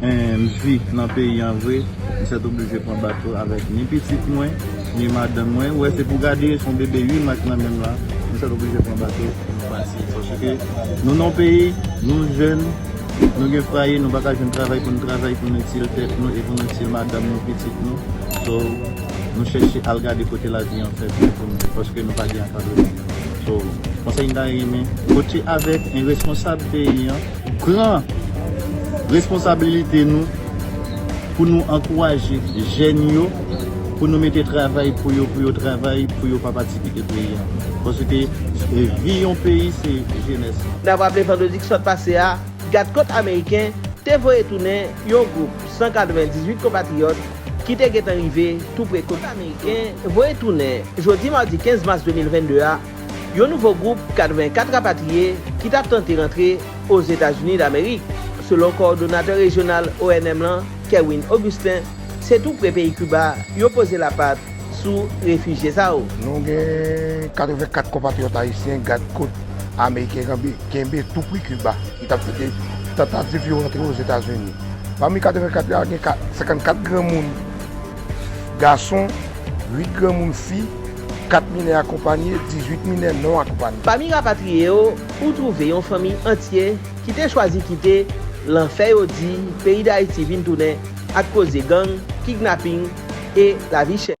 Humm mvi nan peyi an vre m sèt oblije pran bato avèk ni pitit mwen ni madanm mwen wè se pou gade son bebe ui mak nan menm la m sèt oblije pran bato pou nou pase paske nou nan yon peyi nou jèn nou gen fraye nou paka jwenn travay pou nou travay pou nou itil tèt nou e pou nou itil madanm nou pitit nou so nou chèche al gade kote lavi an fèt pou nou paske nou pa gen ankadreman so konsèy m ta renmen pote avèk yon responsab peyi an. Pran responsabilite nou pou nou ankouraje jèn yo pou nou mete travay pou yo pou yo travay pou yo pa pati kite peyi a paske vi yon peyi se jenès lan. N ap raple vandredi ki sot pase a, Gad Kot Ameriken te voye tounen yon gwoup 198 konpatriyòt ki te gentan rive tou pre kot Ameriken voye tounen jodi madi 15 mas 2022 a, Yon nouvo gwoup 84 rapatriye ki tap tante rantre Ozetazini Damerik. Selon kowòdonatè rejyonal ONM lan, Kerwin Augustin, se tou pre peyi Kiba yo poze lapat sou refijye sa yo. Nou gen 84 konpatriyòt ayisyen gad kot ameriken kenbe tou pre Kiba ki tap kite tantativ yo rantre Ozetazini. Pami 84 la gen 54 granmoun gason, 8 granmoun fi. 4 minè akonpanye, 18 minè non akonpanye. Pami rapatriye yo, ou twouve yon fanmi antye ki te chwazi kite lanfè yo di peyi Dayiti vin tounen ak koze gang, kidnaping e lavi chè.